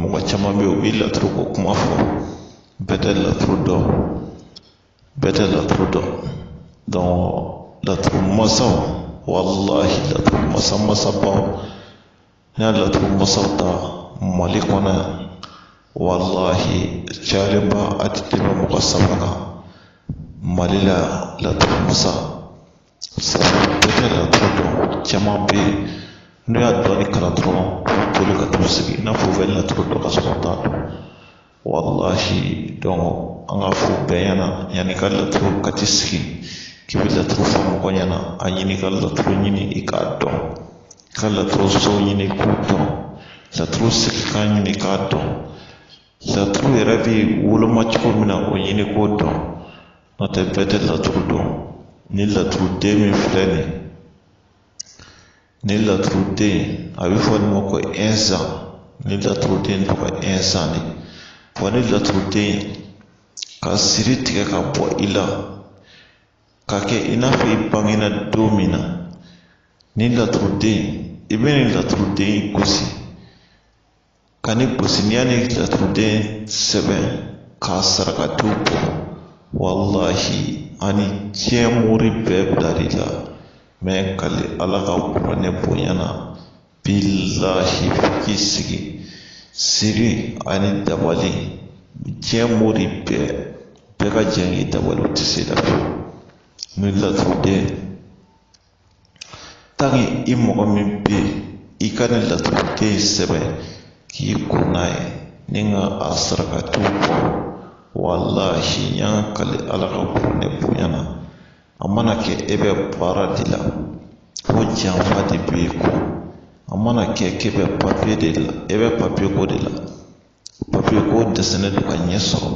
mɔgɔ caman bɛ yen u bɛ laturu ko kuma fɔ bɛɛ tɛ laturu dɔn bɛɛ tɛ laturu dɔn dɔn laturu masaw walahi laturu masa masabaw n'i y'a laturu masaw ta mali kɔnɔ yan walahi cayalenba a tɛ tɛmɛ mɔgɔ saba kan mali la laturu masa Sabu bɛɛ tɛ laturu dɔn caman bɛ yen n'u y'a dɔɔni kalan dɔrɔn boli ka t'u sigi i n'a fɔ u bɛ laturu dɔn ka sɔrɔ u t'a dɔn walahi an ka fɔ bɛɛ ɲɛna yanni ka laturu ka t'i sigi k'i bɛ laturu fɔ mɔgɔ ɲɛna a ɲini ka laturu ɲini i k'a dɔn ka laturu so ɲini k'u dɔn laturu sigi k'a ɲini k'a dɔn laturu yɛrɛ bɛ woloma cogo min na o ɲini k'o dɔn n'o tɛ bɛɛ tɛ laturu dɔn ni laturu den min filɛ nin ye ni laturu den a bɛ fɔ nin ma ko ɛnzan ni laturu den tɔgɔ ye ɛnzan de wa ni laturu den ka siri tigɛ ka bɔ i la k'a kɛ i n'a fɔ i bangena don min na ni laturuden i bɛ nin laturuden gosi ka ni gosinya ni laturuden sɛbɛn ka sarakatiw bɔ walahi hali ni diɲɛ mori bɛɛ bilar'i la n bɛ kali ala ka kuranɛ bonya na bilahi k'i sigi siri ani dabali diɲɛ mori bɛɛ bɛɛ ka jɛn k'i dabali u tɛ se i la fiyewu ni laturuden i mɔgɔ min bɛ yen i ka nin laturuden in sɛbɛn k'i ko n'a ye ni k'a sarakatiw bɔ walahi n y'a kali ala ka kuranɛ bonya na a mana kɛ e bɛ baara de la ko janfa de bɛ e kɔ a mana kɛ k'e bɛ papiye de la e bɛ papiye ko de la papiye ko dɛsɛlen don ka ɲɛ sɔrɔ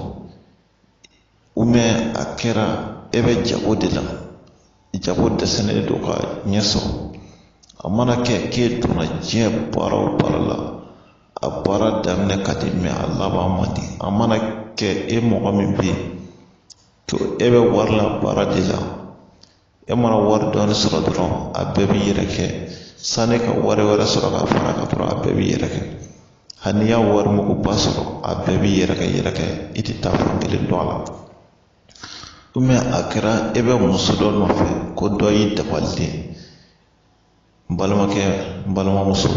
a kɛra e bɛ jago de la jago dɛsɛlen don ka ɲɛ sɔrɔ a mana kɛ k'e donna diɲɛ baara o baara la a baara daminɛ ka di a laban man di a mana kɛ e mɔgɔ min bɛ yen to e bɛ wari la baara de la e mana wari dɔɔni sɔrɔ dɔrɔn a bɛɛ bɛ yɛrɛkɛ sani ka wari wɛrɛ sɔrɔ ka fara a kan dɔrɔn a bɛɛ bɛ yɛrɛkɛ hali n'i y'a wari muguba sɔrɔ a bɛɛ bɛ yɛrɛkɛ yɛrɛkɛ i tɛ taafan kelen dɔn a la a kɛra e bɛ muso dɔ nɔfɛ ko dɔ y'i dabali de n balimakɛ n balimamuso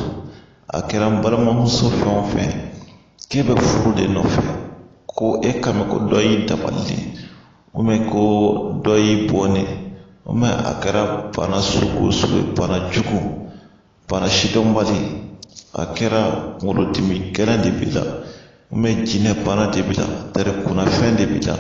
a kɛra n balimamuso fɛn o fɛn k'e bɛ furu de nɔfɛ ko e kan bɛ ko dɔ y'i dabali o mɛ ko dɔ y'i bon o mɛ a kɛra bana sugu o sugu ye bana jugu bana sidɔnbali a kɛra kunkolodimi gɛlɛn de b'i la jinɛ bana de b'i la tere kunnafɛn de b'i la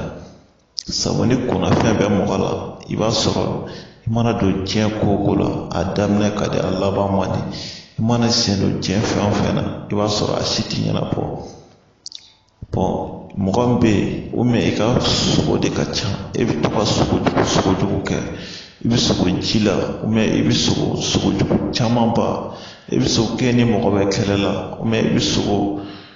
sabu ni kunnafɛn bɛ mɔgɔ la i b'a sɔrɔ i mana don diɲɛ ko o ko la a daminɛ ka di a laban man di i mana sen don diɲɛ fɛn o fɛn na i b'a sɔrɔ a si ti ɲɛnabɔ mɔgɔ min bɛ yen i ka sogo de ka ca e bɛ to ka sogo jugu sogo jugu kɛ i bɛ sogo ji la i bɛ sogo sogo jugu camanba i bɛ sogo k'e ni mɔgɔ bɛ kɛlɛ la i bɛ sogo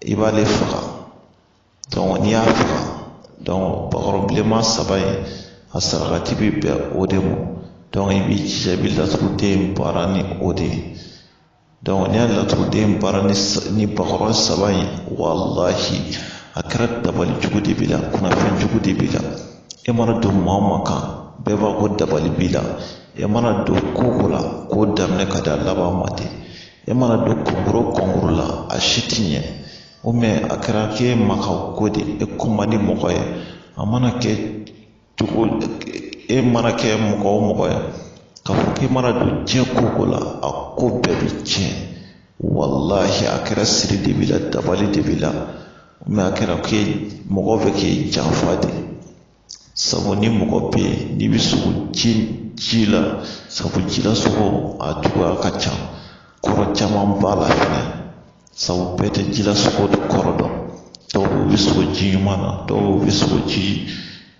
i b'ale faga n'i y'a faga bakɔrɔ bilenman saba in a sarakati bɛ bɛn o de ma i b'i jija i bɛ laturuden baara ni o de ye n'i y'a laturuden baara ni bakɔrɔ saba in walahi a kɛra dabali jugu de b'i la kunnafɛn jugu de b'i la e mana don maa o maa kan bɛɛ b'a fɔ ko dabali b'i la e mana don ko o ko la k'o daminɛ ka d'a laban man di e mana don kɔnkuru kɔnkuru la a si ti ɲɛ o mɛ a kɛra k'e ma ka ko de e ko man di mɔgɔ ye a mana kɛ cogo e mana kɛ mɔgɔ o mɔgɔ ye k'a fɔ k'i mana don diɲɛ ko o ko la a ko bɛɛ bi tiɲɛ walahi a kɛra siri de b'i la dabali de b'i la a kɛra k'e mɔgɔw bɛ k'i janfa de sabu ni mɔgɔ bɛ yen n'i bɛ sogo ji ji la sabu jila sogo a suguya ka ca kɔrɔ caman b'a la fɛnɛ sabu bɛɛ tɛ jila sogo de kɔrɔ dɔn dɔw bɛ sogo ji ɲuman na dɔw bɛ sogo ji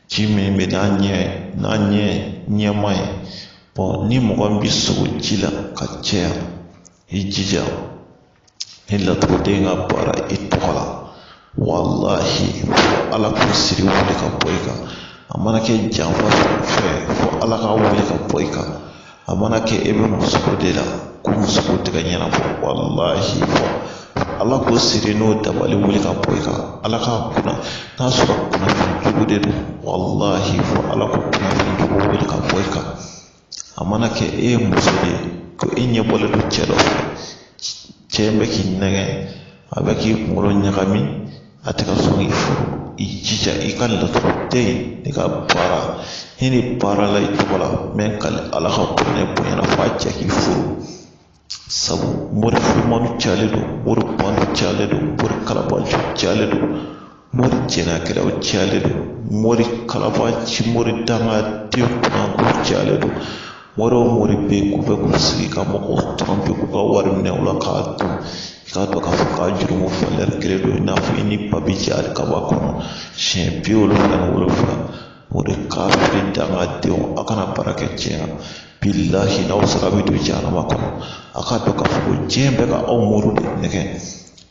ji min bɛ n'a ɲɛ n'a ɲɛ ɲɛma ye ni mɔgɔ min bɛ sogo ji la ka caya i jija ni laturuden ka baara i tɔgɔ la walahi fo ala k'o siri wuli ka bɔ i kan a mana kɛ janfa fɛn fo ala ka wuli ka bɔ i kan a mana kɛ e bɛ musoko de la ko musoko tɛ ka ɲɛnabɔ walahi fo ala k'o siri n'o dabali wuli ka bɔ i kan ala k'a kunna n'a sɔrɔ kunnafɛn jugu de don walahi fo ala k'o kunnafɛn jugu wuli ka bɔ i kan a mana kɛ e ye muso de ye ko e ɲɛ bɔlen don cɛ dɔ fɛ cɛ bɛ k'i nɛgɛn a bɛ k'i kunkolo ɲagami a tɛ ka sɔn k'i furu i jija i ka laturuden nin ka baara ni nin baarala i tɔgɔ la mɛ ka ala ka bonya bonyana f'a cɛ k'i furu sabu mori furumanu cayalen don mori banu cayalen don mori kalabanci cayalen don mori jɛnɛyakɛlaw cayalen don mori kalabanci mori dangaden kunanko cayalen don mori o mori bɛ yen k'u bɛ k'u sigi ka mɔgɔw tɔrɔ bi k'u ka wari minɛ u la k'a dun i k'a dɔn k'a fɔ k'a jurumu falɛri kelen don i n'a fɔ i n'i ba bɛ jɛ alikaba kɔnɔ siɲɛ bi wolonwula ni wolonwula o de k'a fili dangadenw a ka na baara kɛ tiɲɛ na bilahi n'aw sara bɛ don jahanama kɔnɔ a k'a dɔn k'a fɔ ko diɲɛ bɛ ka aw mori de nɛgɛn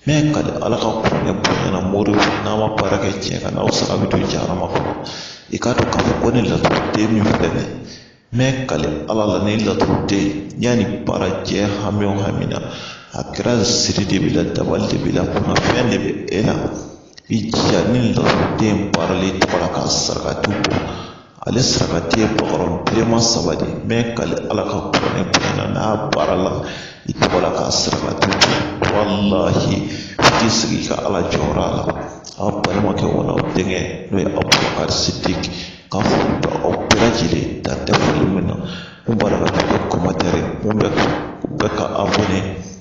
mɛ kali ala ka kuranɛ bonya na mori n'a ma baara kɛ tiɲɛ kan n'aw sara bɛ don jahanama kɔnɔ i k'a dɔn k'a fɔ ko ni laturuden min filɛ nin ye mɛ kali ala la ni laturuden yanni baara diɲɛ hami o hami na a kɛra siri de b'i la dabali de b'i la kunnafɛn de bɛ e la i jija ni laturuden baarala i tɔgɔ la k'a sarakati bɔ ale sarakati ye bakɔrɔ bilenman saba de mɛ kali ala ka kuranɛ bonya na n'a baarala i tɔgɔ la k'a sarakati bɔ walahi i k'i sigi ka ala jɔyɔrɔ a la a balimakɛ wala aw denkɛ n'o ye abubakari sidiki ka foli bɛ aw bɛɛ lajɛlen dan tɛ foli min na minnu b'a la ka kɛ kɔmantɛri minnu bɛ ka abɔne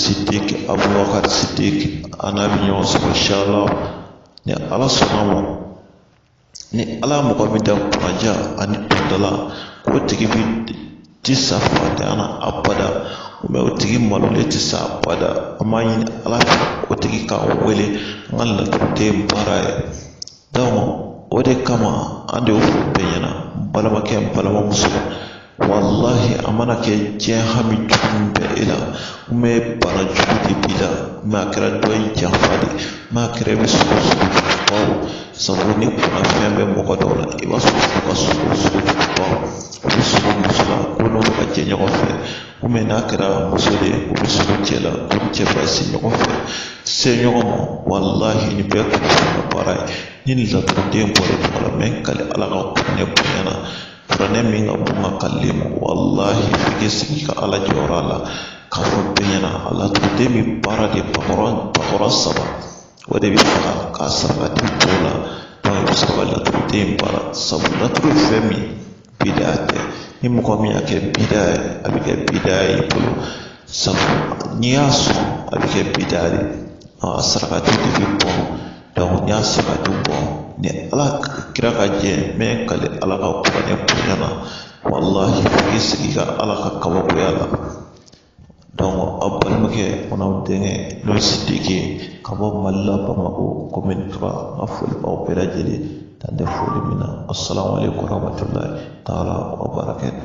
siddiq abubakar siddiq an n'a bɛ ɲɔgɔn sɔrɔ inshallah ni ala sɔnna a ma ni ala mɔgɔ min da kunnadiya ani dundala k'o tigi bi ti sa faantanya na abada mɛ o tigi malolen tɛ sa abada an b'a ɲini ala fɛ o tigi k'an wele an ka laturuden baara a ye o de kama an de y'o fɔ bɛɛ ɲɛna n balimakɛ n balimamuso walahi a mana kɛ diɲɛ hami jugu bɛ e la bana jugu de b'i la mɛ a kɛra dɔ y'i janfa de mɛ a kɛra i bɛ sugo sugo jugubaw sabu ni kunnafɛn bɛ mɔgɔ dɔw la i b'a sɔrɔ ka sugo sugo jugubaw u bɛ sugo muso la ko n'olu ka jɛ ɲɔgɔn fɛ komi n'a kɛra muso de ye o bɛ sugo cɛ la o ni cɛ fara si ɲɔgɔn fɛ se ɲɔgɔn ma walahi nin bɛɛ kun ye ka baara ye ni nin laturuden bɔra tuma la mɛ kali ala ka kuranɛ bonya na kuranɛ min ka bon n ka kali ma walahi i k'i sigi ka ala jɔyɔrɔ la k'a fɔ bɛɛ ɲɛna a laturuden bɛ baara de bakɔrɔ bakɔrɔ saba o de bɛ faga k'a saraka i tɔgɔ la i bɛ sɔrɔ ka laturuden baara sabu laturu ye fɛn min ye bida tɛ ni mɔgɔ min y'a kɛ bida ye a bɛ kɛ bida ye i bolo sabu n'i y'a sɔn a bɛ kɛ bida de a sarakati de bɛ bɔ n'i y'a sarakati bɔ ni ala kira ka jɛ mɛ kali ala ka kuranɛ bonya na walahi i k'i sigi ka ala ka kabakoya la aw balimakɛ fana aw denkɛ n'o ye sidiki ye ka bɔ mali la bamakɔ commune trois n ka foli b'aw bɛɛ lajɛlen dan tɛ foli min na asalamu alekum warahmatulahi taala wa barakatu